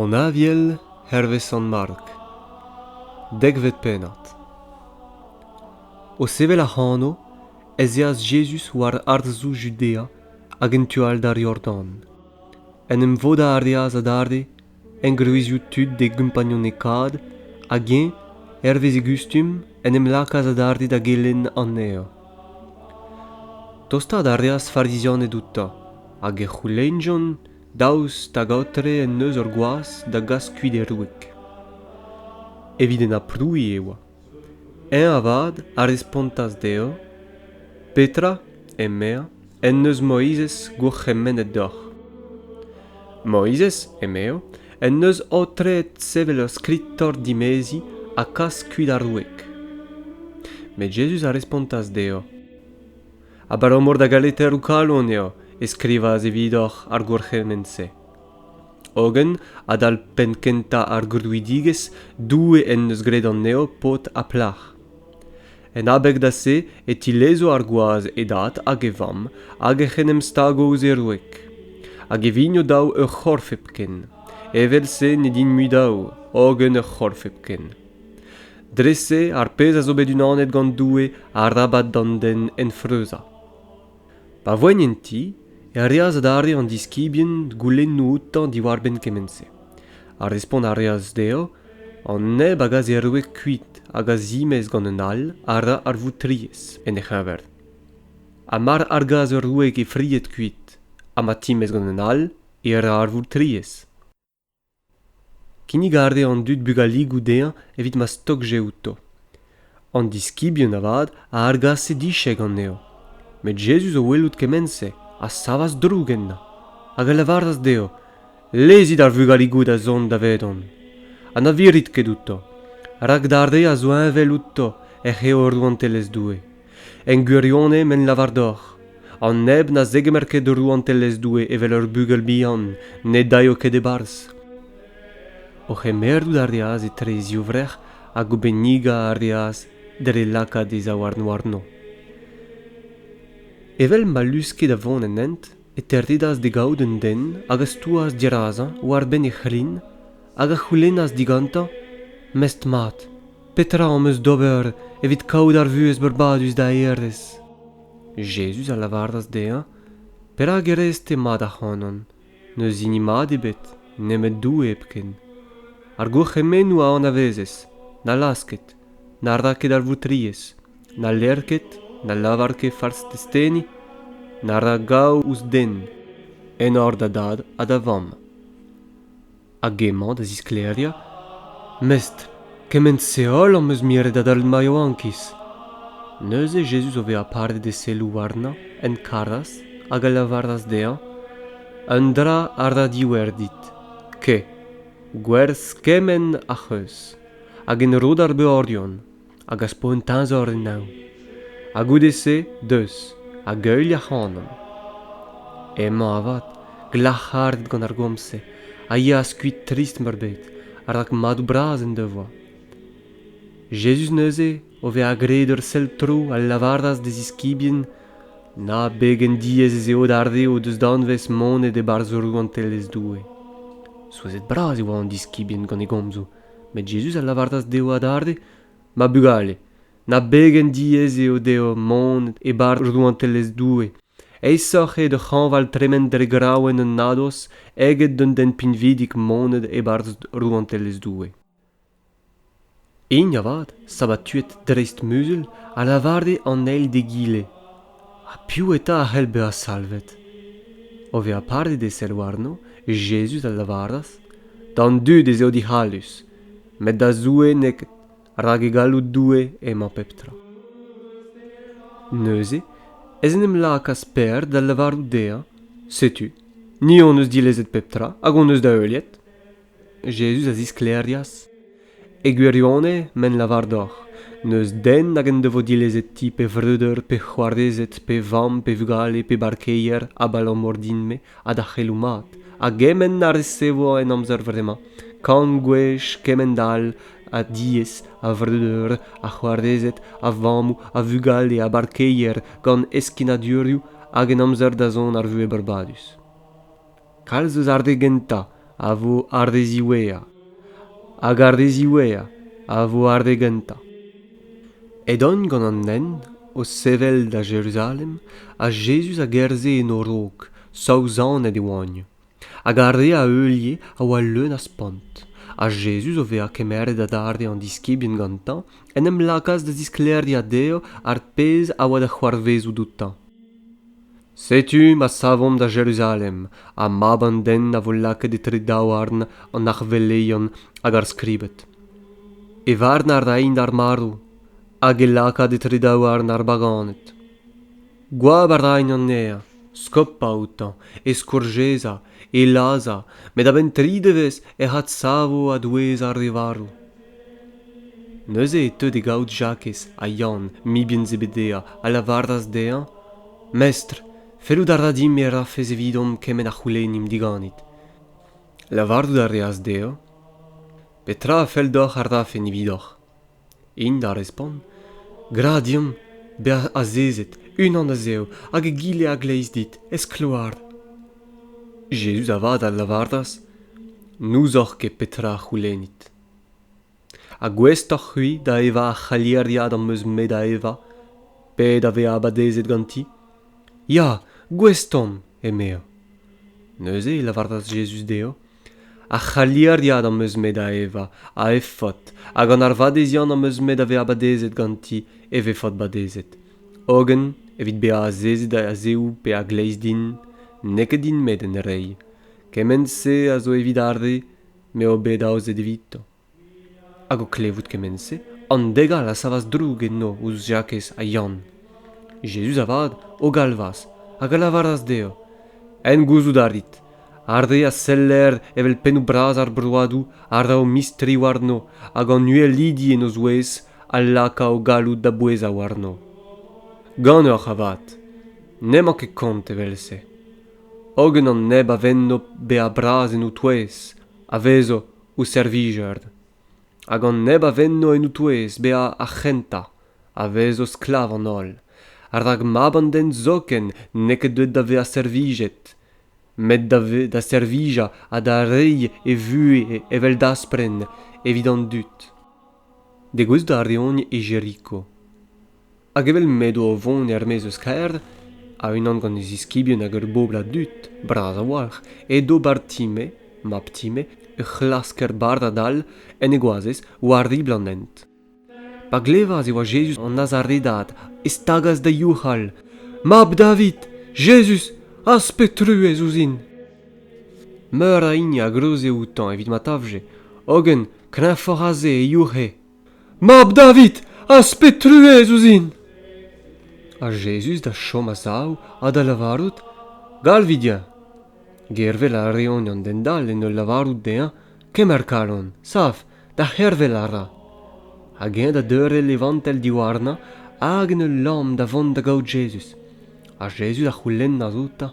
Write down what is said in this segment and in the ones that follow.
an aviel hervez Sant-Mark dekvet pennad o sevel ac'hano ez eas Jezuz war harzoù Judea hag en tu all d'ar Yordan en em vodañ a reas adarre Engroezioù tud d'e gompagnunekaat hag eñ, hervez e gustum, en em lakaas adarre da gelenn anezhañ. Tostaat a reas Farizianed outañ, hag e c'houlennjont daoust hag aotre en deus ur gwaz da gas kuit e roeg. Evit en aprouiñ e oa. Eñ avat a respontas dezhañ, Petra, emezañ, en deus Moizez gourc'hemennet deoc'h? Moizez, emezañ, en deus aotreet sevel ur skritor dimeziñ ha kas kuit ar wreg. Met Jezuz a respontas dezhañ, Abalamour da galeteroù kalon eo e skrivas evidoc'h ar gourc'hemenn-se. Hogen, adal penn kentañ ar grouidigezh, Doue en deus graet anezho paotr ha plac'h. En abeg da se e tilezo ar gwaz e dad hag e vamm hag ec'h en em stago ouzh e wreg. Hag e vigno daou ur c'horf hepken. Evel-se ne din mui daou, hogen ur c'horf hepken. Dre-se, ar pezh a zo bet unanet gant Doue, arabat d'an den enfreuzañ. Pa voent en ti e reas adarre an diskibien goulennoù outañ diwar-benn kement-se. Ha respont a reas dezhañ an neb a gaseroe kuit hag a zimez gant un all a ra ar voutrilhez en e c'heñver. Ha mar argas ur wreg he fried kuit ha ma timez gant un all, e ra ar voutrilhez. Kinnig a rez an dud bugaligoù dezhañ evit ma stogje outo. An diskibien avat a argase dichek anezho. Met Jezuz o welout kement-se a savas droug ennañ, hag a lavaras dezho, Lezit ar vugaligoù da zont davedon, ha na virit ket outo, rak d'ar re a zo heñvel outo ec'h eo rouantelezh Doue. En gwirionez m'en lavar deoc'h, an neb na zegemer ket rouantelezh Doue evel ur bugel bihan ne daeo ket e-barzh. O c'hemerout a reas etre e zivvrec'h hag o bennigañ a reas dre lakaat e zaouarn warno. Evel ma luske da vont en hent, e terdedas d'e gavout un den hag a stouas dirazañ war-benn e c'hlin hag a c'houlennas digantañ mestr-mat petra am eus d'ober evit kaout ar vuhez beurbadus da hêrezh Jezuz a lavaras dezhañ perak e rez-te mat ac'hanon n'eus hini mat ebet nemet Doue hepken ar gourc'hemennoù a anavezez na laz ket na ra ket ar voutriezh Na ler ket, na lavar ket fals testeni, na ra gaou ouzh den, enor da dad ha da vamm. Hag emañ da zisklêriañ, Mestr, kement-se holl am eus miret adal ma yaouankiz. Neuze Jezuz o vezañ paret e selloù warnañ en karas hag a lavaras dezhañ, Un dra a ra diwerdit, ke gwerz kement ac'h eus, hag en ro d'ar beorion, hag a spont teñzor en neñv. Ha goude-se deus hag heuilh ac'hanon. Emañ avat glac'haret gant ar gomz-se a yeas kuit trist-meurbet rak madoù bras en devoa. Jezuz neuze, o vezañ graet ur sell tro, a lavaras d'e ziskibien na pegen diaes ez eo d'ar re o deus danvez monet e-barzh rouantelezh Doue. Souezhet-bras e oa an diskibien gant e gomzoù Met Jezuz a lavaras dezho adarre, Ma bugale, na begen diaes eo deoc'h mont e-barzh rouantelezh Doue. Aesoc'h eo d'hoc'h hañval tremen dre graouenn an nadoz eget d'un den pinvidik monet e-barzh rouantelezh Doue. Hini avat, sabatuet dreist-muzul, a lavare an eil d'egile, Ha piv eta a c'hell bezañ salvet? O vezañ padet e sell warno, Jezuz a lavaras, D'an dud ez eo dic'hallus, met da Zoue n'eo ket, rak e galloud Doue emañ pep tra. Neuze ez en em lakaas Pêr da lavarout dezhañ, Setu, ni hon eus dilezet pep tra hag hon eus da heuliet. Jezuz a zisklêrias, E gwirionez, m'en lavar deoc'h, n'eus den nag en devo dilezet ti pe vreudeur pe c'hoarezed pe vamm pe vugale pe barkeier abalamour din-me ha da c'heloù mat, a gement a resevo en amzer vremañ, kant gwech kement all a diez, a vreudeur, a c'hoarezed, a vammoù, a vugale, a barkeier gant heskinadurioù hag en amzer-dazont ar vuhez breudadus. Kalz eus ar re gentañ a vo ar re ziwezhañ, hag ar re ziwezhañ a vo ar re gentañ. Edont gant an hent o sevel da Jeruzalem, ha Jezuz a gerzhe en o raok, saouzanet e oant. Hag ar re a heulie a oa leun a spont. Ha Jezuz, o vezañ kemeret adarre an diskibien gantañ, en em lakaas da zisklêriañ dezho ar pezh a oa da c'hoarvezout outañ. setu ma savomp da jeruzalem ha mab an den a vo lakaet etre daouarn an arveleion hag ar skribed e varn a raint ar marv hag e lakaat etre daouarn ar baganed goap a raint anezhañ skopañ outañ e skourjezañ e lazhañ met a-benn tri devezh ec'h adsavo a-douez ar re varv Neuze e teu d'e gaout Jakez ha Yann, mibien Zebedea, a lavaras dezhañ, Mestr, fellout a ra din e rafes evidomp kement a c'houlennimp diganit. Lavarout a reas dezhañ, Petra a fell deoc'h a rafen evidoc'h? Int a respont, Gra deomp bezañ azezet, unan a-zehoù, hag egile a-gleiz dit, ez-kloar. Jezuz avat a lavaras, N'ouzoc'h ket petra a c'houlennit. ha gouestoc'h-c'hwi da evañ ar c'halieriad am eus me da evañ pet a vezañ badezet ganti ya gouest omp emezañ neuze e lavaras Jezuz dezhañ ar c'halieriad am eus me da evañ a efod ha gant ar vadeziant am eus me da vezañ badezet ganti e vefot badezet hogen evit bezañ azezet a-zehoù pe a-gleiz din n'eo ket din-me d'en reiñ kement-se a zo evit ar re m'eo bet aozet evito. Hag o klevout kement-se, an degal a savas droug enno ouzh Jakez ha Yann. Jezuz avat o galvas hag a lavaras dezho, En gouzout a rit, ar re a seller evel pennoù bras ar broadoù a ra o mistri warno hag an uhelidi en o zouez a laka o galloud da bouezañ warno. Ganeoc'h avat, n'emañ ket kont evel-se. hogen an neb a venno bezañ bras en ho touez a vezo ho servijer hag an neb a venno en ho touez bezañ ar c'hentañ a vezo sklav an holl rak mab an den zoken n'eo ket deuet da vezañ servijet met da servijañ ha da reiñ e vuhez evel daspren evit an dud degouezhout a reont e Jeriko hag evel m'edo o vont er-maez eus kêr, a-unan gant e ziskibien hag ur bobl a dud, bras a-walc'h, edo Bartime, mab Time, ur c'hlasker bardad all, en e goazez, war ribl an hent. Pa glevas e oa Jezuz an Nazaredad, e stagas da youc'hal. Mab David, Jezuz, az pe truez ouzhin! Meur a hini a groze outañ evit ma tavje, hogen kreñvoc'h aze e youc'he. mab David, az-pet truez ouzhin! Ha Jezuz da chom a-sav ha da lavarout, Galvit-eñ! Gervel a reont an den dall en ul lavarout dezhañ, Kemer kalon, sav, da c'hervel a ra. Hag eñ da deurel e vantell diwarnañ hag en ul lamm da vont da gaout Jezuz. Ha Jezuz a c'houlennas outañ,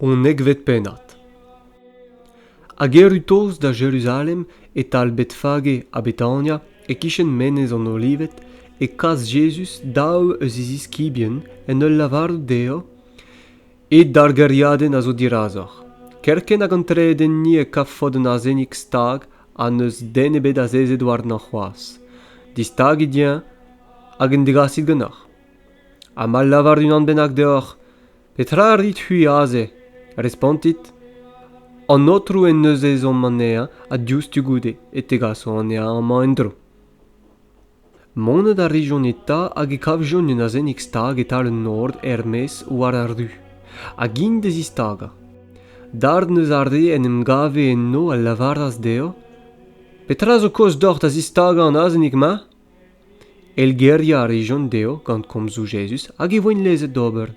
Unekvet pennad Hag erru tost da Jeruzalem, e-tal Betfage ha Betania, e-kichen Menez an Olived, e kas Jezuz daou eus e ziskibien en ul lavarout dezho ed ar gêriadenn a zo dirazoc'h. Kerkent hag an tredenni e kavfot un azenig stag ha n'eus den ebet azezet warnañ c'hoazh. Distagit-eñ hag en degasit ganeoc'h. ha ma lavar unan bennak deoc'h petra a rit-c'hwi aze respontit an aotrou en deus ezhomm anezhañ ha diouzhtu goude e tegaso anezhañ amañ en-dro Monet a rijont eta hag e kavjont un azennig stag e-tal an nor er-maez war ar ru hag int da zistagañ. Darn eus ar re en em gave enno a lavaras dezho Petra zo kaoz deoc'h da zistagañ an azennig-mañ? Heilgeriañ a rejont dezho gant komzoù Jezuz hag e voent lezet d'ober.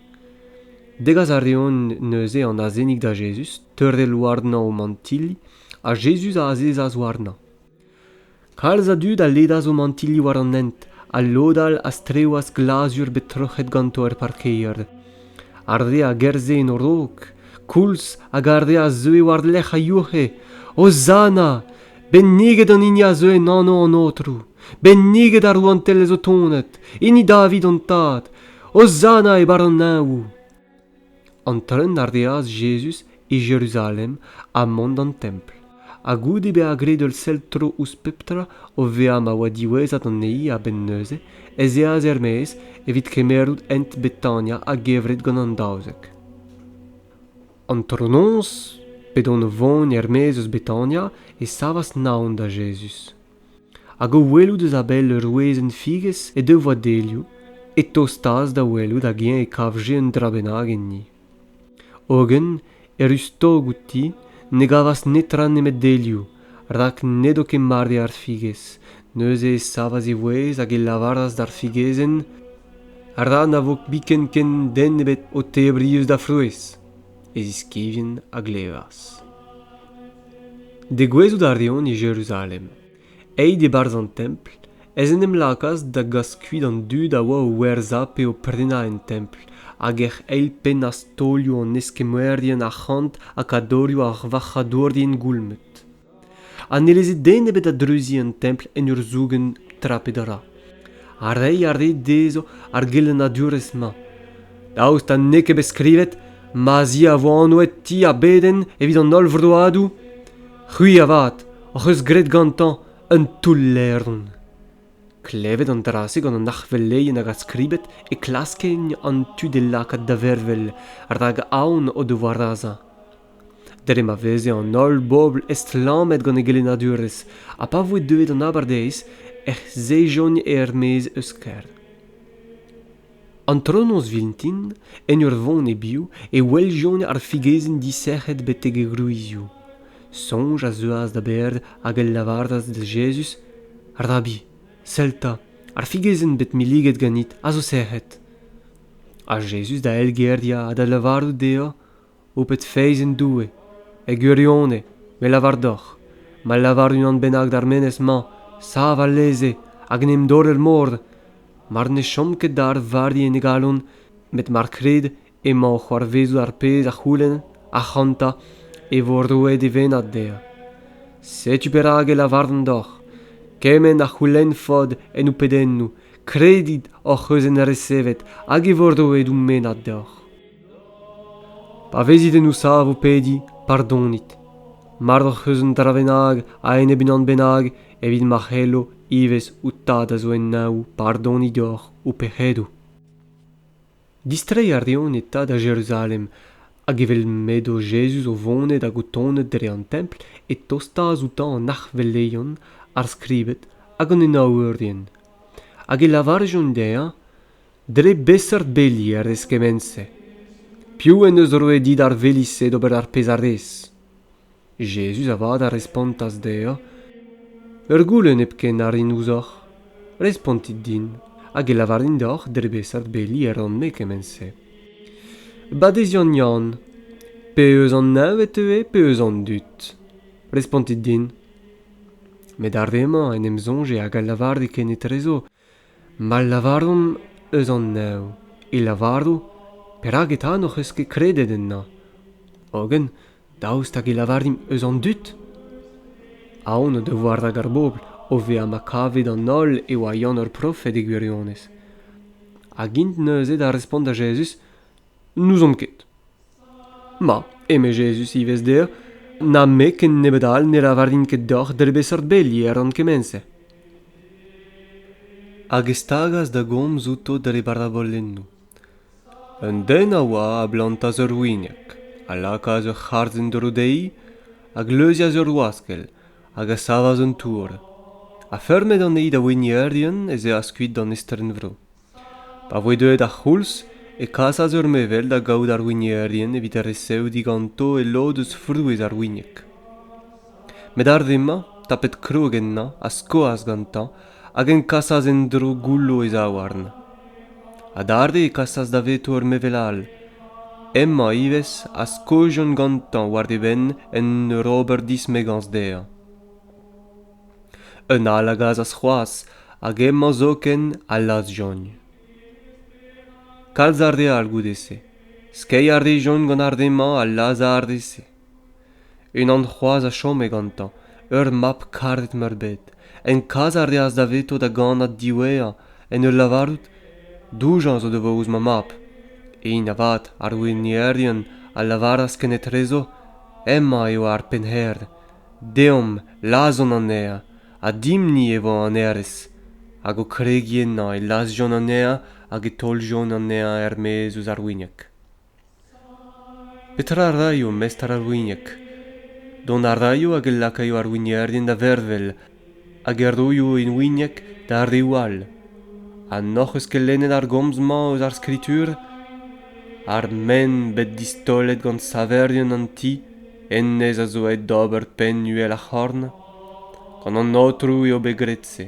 Degas a reont neuze an azenig da Jezuz, teurel warnañ o mantilli, ha Jezuz a azezas warnañ. Kalz a dud a ledas o mantilli war an hent, ha lod all a strewas glazur bet troc'het ganto er parkeier. Ar re a gerzhe en o raok, koulz hag ar re a zeue war-lerc'h a youc'he, Hozanna! Benniget an hini a zeu en anv an Aotrou, benniget ar rouantelezh o tonet, hini David an tad, Hozanna e barr An treun a reas Jezuz e Jeruzalem ha mont d'an templ. Ha goude bezañ graet ul sell tro ouzh pep tra o vezañ ma oa diwezhat anezhi a-benn neuze, ez eas er-maez evit kemerout hent Betania a-gevret gant an daouzek. Antronoz, p'edont o vont er-maez eus Betania, e savas Naon da Jezuz. Hag o welout eus a-bell ur wezenn-figez he devoa delioù, e tostaas da welout hag-eñ e kavje un dra bennak enni. Hogen, e ruz-tog outi, ne gavas netra nemet delioù, rak n'edo ket mat eo ar figez neuze e savas e vouezh hag e lavaras d'ar figezenn ra na vo biken ken den ebet o tebriñ eus da frouezh e ziskibien a glevas degouezhout a reont e jeruzalem aet e-barzh an templ ez en em lakaas da gas kuit an dud a oa o werzhañ pe o prenañ en templ hag ec'h eilpennas taolioù an eskemmerien arc'hant ha kadorioù ar varc'hadourien goulmet ha ne leze den ebet da dreuziñ an templ en ur zougen tra pe dra ha reiñ a rae dezho ar gelennadurezh-mañ daoust ha n'eo ket bet skrivet ma'z i a vo anvet ti ar bedenn evit an holl vroadoù c'hwi avat hoc'h eus graet gantañ Un toull-levr. Klevet an dra-se gant an arveleien hag ar skribed e klaskent an tu d'e lakaat da vervel, rak aon o devoa razañ. Dre ma veze an holl bobl estlammet gant e gelennadurezh, ha pa voe deuet an abardaez, ec'h sejont er-maez eus kêr. Antronoz vintin, en ur vont e-biou, e weljont ar figezenn disec'het betek e gwrizioù. Soñj a zeuas da berr hag a lavaras da Jezuz, Rabbi, sell 'ta, ar figezenn bet milliget ganit a zo sec'het. Ha Jezuz da elgeriañ ha da lavarout dezhañ, ho pet feiz en Doue, e gwirionez, me lavar deoc'h, ma lavar unan bennak d'ar menez-mañ, sav alese hag en em dorr er mor, mar ne chom ket da arvardi en e galon, met mar krit emañ o c'hoarvezout ar pezh a c'houlenn, ac'hanta, e vo roet e vennad dezhañ. Setu perak e lavarvan deoc'h, kement a c'houlennfot en ho pedennoù, kredit hoc'h eus en resevet hag e vo roet ho mennad deoc'h. Pa vezit en ho sav o pediñ, pardonit. Mard hoc'h eus un dra bennak a-enep unan bennak evit ma c'hello ivez ho tad a zo en neñv pardoniñ deoc'h ho pec'hedoù. Distreiñ a reont e tad da Jeruzalem, hag evel m'edo Jezuz o vonet hag o tonet dre an templ e tostaas outañ an arc'hveleion, ar skribed hag an enaourien, hag e lavarjont dezhañ dre beseurt beli a rez kement-se piv en deus roet dit ar veli-se d'ober ar pezh a rez Jezuz avat a respontas dezhañ ur goulenn hepken a rin ouzhoc'h respontit din hag e lavarin deoc'h dre beseurt beli e ran-me kement-se Badeziant Yann pe eus an neñv e teue pe eus an dud respontit din met ar re-mañ en em soñje hag a lavare kenetrezo Ma lavaromp eus an neñv e lavaro perak eta n'hoc'h eus ket kredet ennañ hogen daoust hag e lavarimp eus an dud? Aon o devoa rak ar bobl o vezañ ma kave d'an holl e oa Yann ur profed e gwirionez hag int neuze da respont da Jezuz n'ouzomp ket. Ma, eme Jezuz ivez dezhañ, na-me ken nebeut all ne lavarin ket deoc'h dre beseurt beli e ran kement-se. Hag e stagas da gomz outo dre barabolennoù. Un den a oa a blantas ur winieg, a lakaas ur c'harz en-dro dezhi, a gleuzias ur waskell, hag a savas un tour. Ha feurmet anezhi da winierien ez eas kuit d'an estrenvro. Pa voe deuet ar c'houlz e kasas ur mevel da gaout ar wignerien evit resev diganto e lod eus frouezh ar wignek. Met ar re-mañ, tapet krog ennañ, a skoas gantañ hag eñ kasas en-dro goullo e zaouarn. Adarre e kasas daveto ur mevel all. Hemañ ivez a skojont gantañ war e benn en ur ober dismegañs dezhañ. Un all a gasas c'hoazh hag emañ zoken al laz-jogn. Kalz a real goude-se. Skeiñ a rejont gant ar re-mañ al laz ar re-se. Unan c'hoazh a chome gantañ, ur mab karet-meurbet. En kas a reas daveto da gannad diwezhañ en ul lavarout doujañs o devoa ouzh ma mab. Int avat, ar winierion, a lavaras kenetrezo, hemañ eo ar pennhêr. deomp lazhomp anezhañ ha dimp-ni e vo an hêrezh hag o kregiñ ennañ e lazhjont anezhañ hag e taoljont anezhañ er-maez eus ar wignag petra a raio mestr ar wignag dont a raio hag e lakaio ar wignerien da vervel hag e roio henwinieg d'ar reoù all ha n'hoc'h eus ket lennet ar gomz-mañ eus ar skritur ar men bet distaolet gant saverien an ti hennezh a zo aet d'ober penn uhel ar c'horn gant an aotrou eo bet graet-se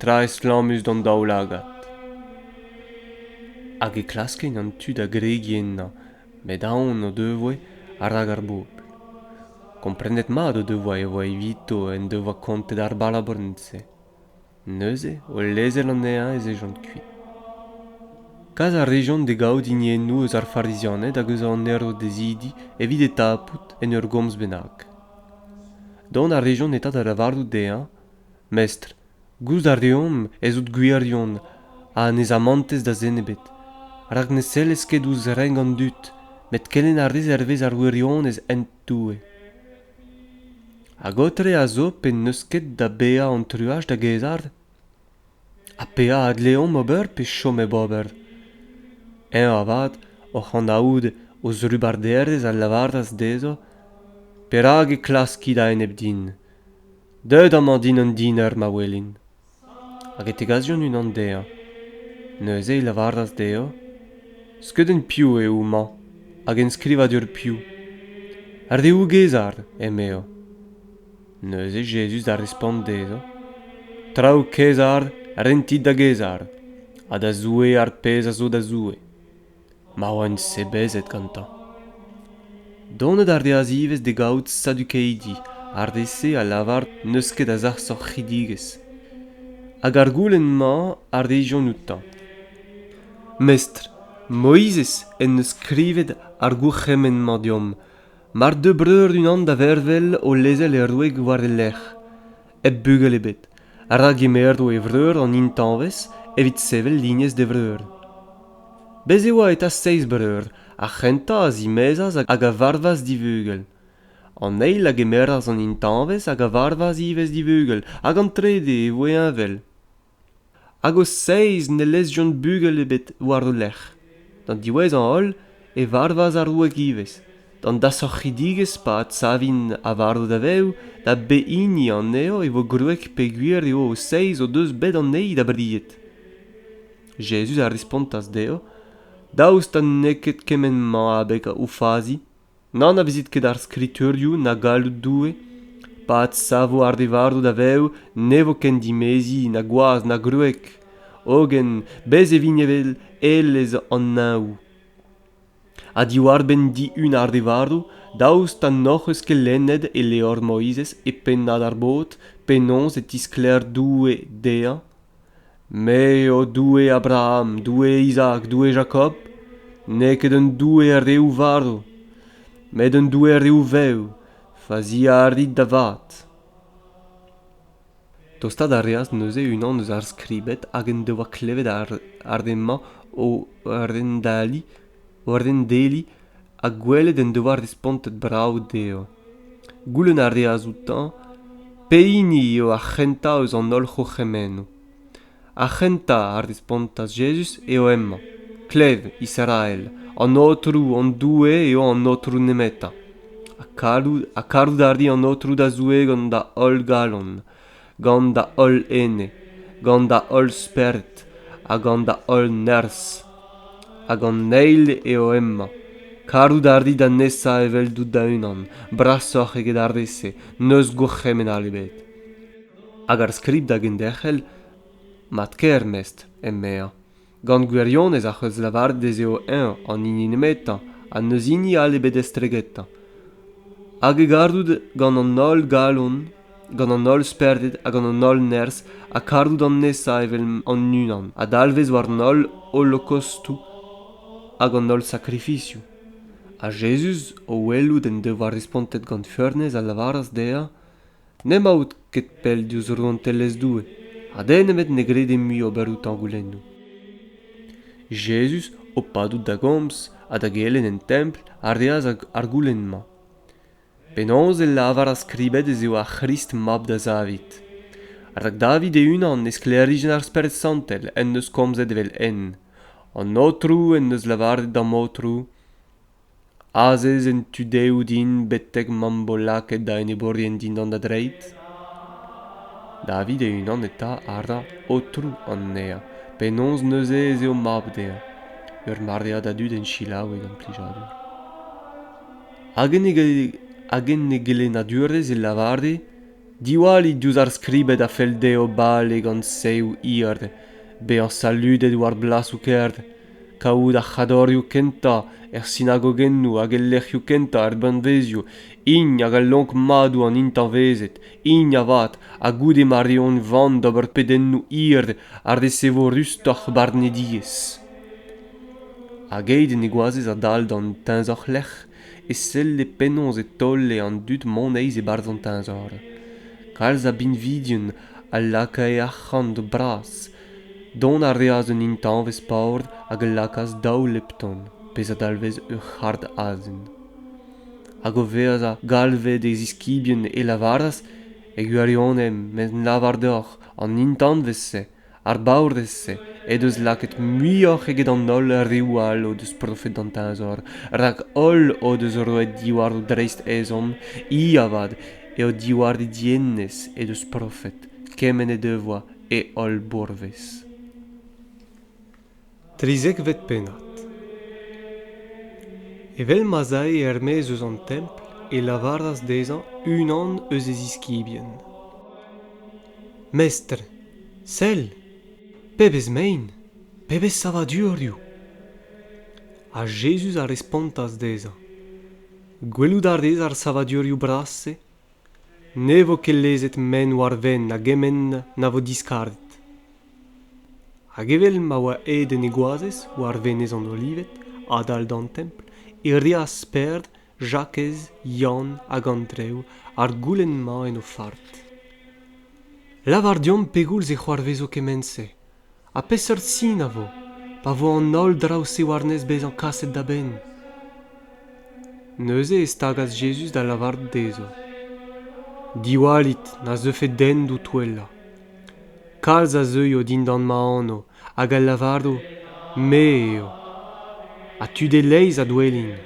tra estlammus d'an daoulagad hag e klaskint an tu da gregiñ ennañ met aon o devoe a-rak ar bobl komprenet mat o devoa e oa evito en devoa kontet ar balabourn-se neuze o lezel anezhañ ez ejont kuit kas a rejont da gaout hiniennoù eus ar farizianed hag eus an herodezidi evit e tapout en ur gomz bennak dont a rejont eta da lavarout dezhañ mestr Gouzout a reomp ez out gwirion ha ne zamantez da zen ebet, rak ne sellez ket ouzh renk an dud, met kelenn a rez hervez ar wirionez hent Doue. Hag aotre a zo pe n'eus ket da baeañ an truaj da gaezhar? Ha petra a dleomp ober pe chom hep ober? Eñ avat, oc'h anaout o zrubarderezh a lavaras dezho perak e klaskit a-enep din. Deuet amañ din an diner ma welin. Hag e tegasion unan dezhañ. Neuze e lavaras dezhañ skeudenn piv eo houmañ hag enskrivadur piv. Ar deougezar, emezañ. Neuze Jezuz da respont dezhañ traoù kaezar rentit da gaezar ha da Zoue ar pezh a zo da Zoue. ma oan sebezet gantañ. Donet a reas ivez da gavout sadukeidi ar re-se a lavar n'eus ket a sac'hoc'hidigezh, hag ar goulenn-mañ a rejont outañ. Mestr, Moizez en deus skrivet ar gourc'hemenn-mañ deomp, mar deu breur unan da vervel o lezel e wreg war e lerc'h, hep bugel ebet rak emeur eo e vreur an intañvez evit sevel lignez d'e vreur bez' e oa eta seizh breur ar c'hentañ a zimezas hag a varvas divugel an eil a gemeras an intañvez hag a varvas ivez divugel hag an trede e voe heñvel hag o seizh ne lezjont bugel ebet war o lerc'h d'an diwezhañ holl e varvas ar wreg ivez d'an dasorc'hidigezh pa adsavint a varv daveoù da behini anezho e vo gwreg peogwir eo o seizh o deus bet anezhi da bried jezuz a respontas dezho daoust ha n'eo ket kement-mañ abeg o fazi n'anavezit ket ar skriturioù na galloud Doue pa adsavo ar re varv da vev ne vo ken dimeziñ na gwaz na gwreg hogen bez e vin evel elez an neñvoù ha diwar-benn dihun ar re varv daoust ha n'hoc'h eus ket lennet e levr Moizez e pennad ar bod penaos e tisklêr Doue dezhañ Me eo Doue Abraham, Doue Izaak, Doue Jakob, n'eo ket un Doue a reoù varv, met un Doue a reoù vev, faziañ a rit da vat. Tostaat a reas neuze unan eus ar skribed hag en devoa klevet ar re-mañ o rendaliñ, o rendeliñ ha gwelet en devoa respontet brav dezho. Goulenn a reas outañ pehini eo ar c'hentañ eus an holl c'hourc'hemennoù. Ar c'hentañ a respontas Jezuz eo hemañ, Klev, Israel, an Aotrou, an Doue, eo an Aotrou nemetañ. Ha karout a ri an Aotrou da Zoue gant da holl galon, gant da holl ene, gant da holl spered ha gant da holl nerzh. Hag an eil eo hemañ. Karout a rit anezhañ eveldout da-unan, brasoc'h eget ar re-se, n'eus gourc'hemenn all ebet. Hag ar skrid da genderc'hel? Mat-kaer, mestr, emezañ. Gant gwirionez ac'h eus lavaret ez eo eñ an hini nemetañ ha n'eus hini all ebet estregetañ. Hag e garout gant an holl galon, gant an holl spered ha gant an holl nerzh ha karout an nesañ evel an unan a dalvez war an holl holokostoù hag an holl sakrifizioù. Ha Jezuz, o welout en devoa respontet gant feurnez, a lavaras dezhañ n'emaout ket pell diouzh rouantelezh Doue ha den ebet ne grede mui ober outañ goulennoù. Jezuz, o padout da gomz ha da gelenn en templ, a reas ar goulenn-mañ. Penaos e lavar ar skribed ez eo ar C'hrist mab da Zavid? Rak David e-unan e sklêrijenn ar Spered Santel en deus komzet evel-henn. An Aotrou en deus lavaret d'am Aotrou, Azez en tu dehoù din betek m'am bo lakaet da enebourien dindan da dreid? David e-unan eta a ra aotrou anezhañ. Penaos neuze ez eo mab dezhañ? Ur maread a dud en selaou e gant plijadur. Hag en e gelennadurezh e lavare diwallit diouzh ar skribed a fell dezho bale gant seoù hir bezañ saludet war blasoù kêr kaout ar c'hadorioù kentañ er sinagogennoù hag el lec'hioù kentañ er banvezioù hini hag al lonk madoù an intañvezed hini avat ha goude ma reont van d'ober pedennoù hir ha resevo rustoc'h barnediezh hag aet en e goazez adal d'an teñzor-lec'h e selle penaos e taole an dud moneiz e-barzh an teñzor kalz a binvidien a lakae arc'hant bras dont a reas d'un intañvez paour hag a lakaas daou lepton pezh a dalvez ur c'hard azen hag o vezañ galvet e ziskibien e lavaras e gwirionez met lavar deoc'h an intañvez-se ar baourez-se he deus lakaet muioc'h eget an holl reoù all o deus profet d'an teñzor rak holl o deus roet diwar o dreist ezhomm hi avat eo diwar he dienez he deus profet kement he devoa e holl bourvez Trizekvet pennad. Evel ma'z ae er-maez eus an templ, e lavaras dezhañ unan eus e ziskibien. Mestr, sell, pebezh mein, pebezh savadurioù! Ha Jezuz a respontas dezhañ, Gwelout a rez ar savadurioù bras-se? Ne vo ket lezet men war-benn a gement na vo diskarget. Hag evel ma oa aet en e goazez war venez an olived, adal d'an templ, e reas Pêr, Jakez, Yann hag Andrev ar goulenn-mañ en o fard. Lavar deomp pegoulz e c'hoarvezo kement-se, ha peseurt sin a vo, pa vo an holl draoù-se war-nes bezañ kaset da benn. Neuze e stagas Jezuz da lavarout dezho, Diwallit na zeufe den d'ho touellañ. Kalz a zeuio dindan ma anv hag a lavaro Me eo. Ha tud e-leizh a douellint.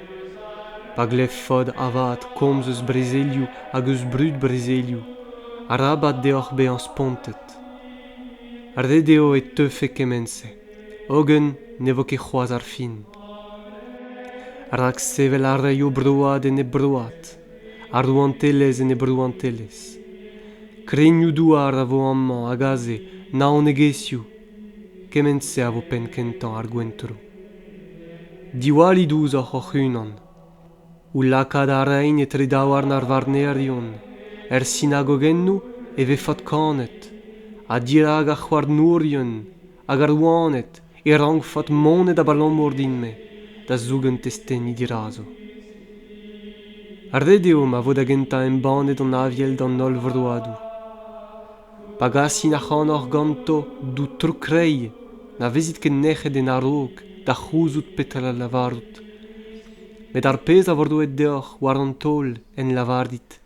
Pa glevfot avat komz eus brezelioù hag eus brud-brezelioù, arabat deoc'h bezañ spontet. Ret eo e teufe kement-se, hogen ne vo ket c'hoazh ar fin. Rak sevel a raio broad enep broad. ar rouantelezh en he brouantelezh. Krennioù-douar a vo amañ hag aze, naonegezhioù. Kement-se a vo penn-kentañ ar gwentro. Diwallit ouzhoc'h hoc'h-unan. Ho lakaat a raint etre daouarn ar varnerion. Er sinagogennoù e vefot kanet, ha dirak ar c'houarnourien, Hag ar rouaned e rankfot monet abalamour din-me da zougen testeni dirazo. Ret eo ma vo da gentañ embannet an aviel d'an holl vroadoù. Pa gasin ac'hanoc'h ganto dout tro-kreiz, na vezit ket nec'het en a-raok da c'houzout petra lavarout. Met ar pezh a vo roet deoc'h war an taol en lavarit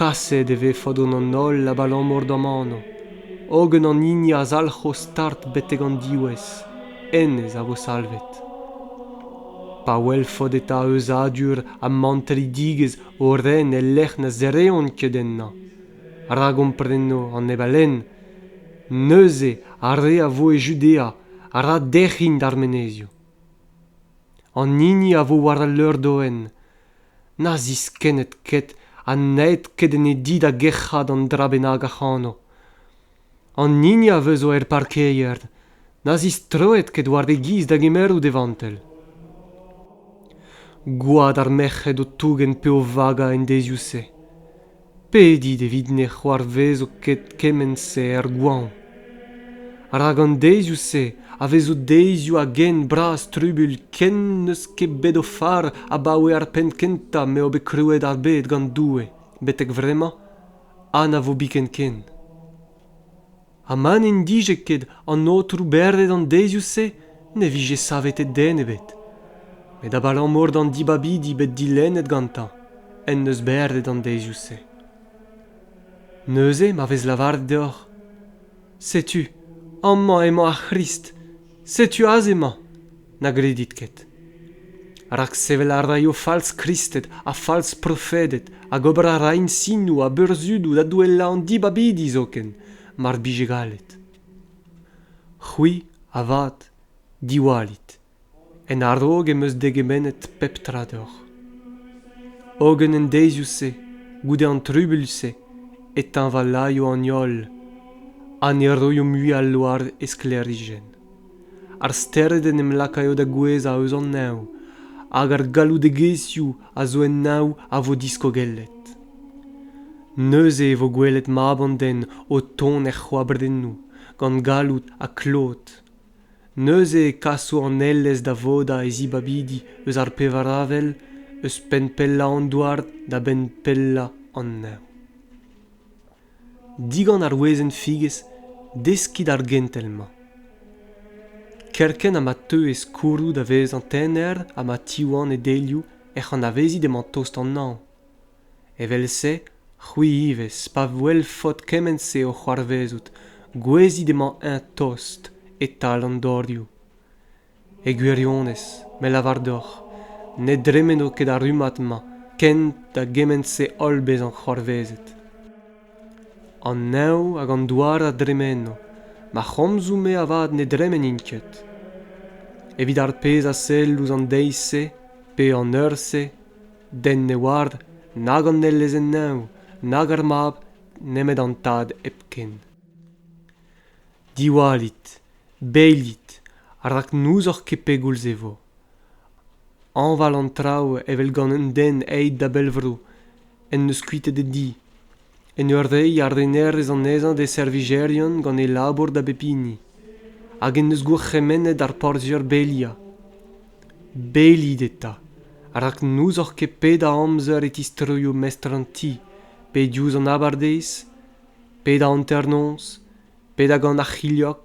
Kaset e vefe d'an holl abalamour d'am anv, hogen an hini a zalc'ho start betek an diwezh, hennezh a vo salvet. Pa welfot eta euzadur ha mantredigezh o ren el lec'h na zereont ket ennañ, ra gompreno an neb a lenn, neuze ar re a vo e Judea a ra derc'hin d'ar menezioù. An hini a vo war al leur-doenn, na ziskenned ket ha n'aet ket en e di da gerc'hat an dra bennak ac'hano an hini a veu zo er parkeier na zistroet ket war e giz da gemerout e vantell gwad ar merc'hed o tougen pe o vaga en deziou-se Pedit evit ne c'hoarvezo ket kement-se er goañv. Rak an deizioù-se a vezo deizioù a-gent bras trubul ken n'eus ket bet o far abaoe ar penn kentañ m'eo bet krouet ar bed gant Doue betek vremañ ha na vo biken ken. ha ma n'en dije ket an aotrou bervet an deizioù-se ne vije savetet den ebet met abalamour d'an dibabidi bet dilennet gantañ en deus bervet an deizioù-se neuze ma vez lavaret deoc'h setu amañ emañ ar c'hrist Setu aze 'mañ, na gredit ket. Rak sevel a raio falz Kristed ha falz profeded hag ober a ra insinoù ha burzhudoù da douellañ an dibabidi zoken, mar bije gallet. C'hwi, avat, diwallit. En a-raok em eus degemennet pep tra deoc'h. Hogen en deizioù-se, goude an trubuilh-se, e teñvalaio an holl ha ne roio mui al loar e sklêrijenn. Ar stered en em lakaio da gouezhañ eus an neñv hag ar galloudegezhioù a zo en neñv a vo diskogellet. Neuze e vo gwelet mab an den o tont er c'hoabrennoù, gant galloud ha klod, neuze e kaso an elez da vodañ e zibabidi eus ar pevar avel eus penn pellañ an douar da benn pellañ an neñv digant ar wezenn figez deskit ar gentel-mañ kerkent ha ma teu e skourroù da vezañ tener ha ma tiwan e delioù ec'h anavezit emañ tost an hañv Evel-se, c'hwi ivez, pa welfot kement-se o c'hoarvezout, gouezit emañ-eñ tost e-tal an dorioù. E gwirionez, me lavar deoc'h, ne dremeno ket ar rummad-mañ kent da gement-se holl bezañ c'hoarvezet. An neñv hag an douar a dremeno, ma c'homzoù-me avat ne dremenint ket. Evit ar pezh a sell ouzh an deiz-se pe an eur-se, Den ne oar nag an Enezenn-Neñv nag ar Mab nemet an Tad hepken. Diwallit, beilit, rak n'ouzoc'h ket pegoulz e vo. Hañval an traoù evel gant un den aet da bellvro en deus kuitet e di. en ur reiñ arrenerezh anezhañ d'e servijerion gant e labour da bep hini hag en deus gourc'hemennet ar porzhier beliañ. Belit eta, rak n'ouzoc'h ket pedañ amzer e tistroio mestr an ti, pe diouzh an abardaez, pe da hanternoz, pe da gant ar c'hilhog,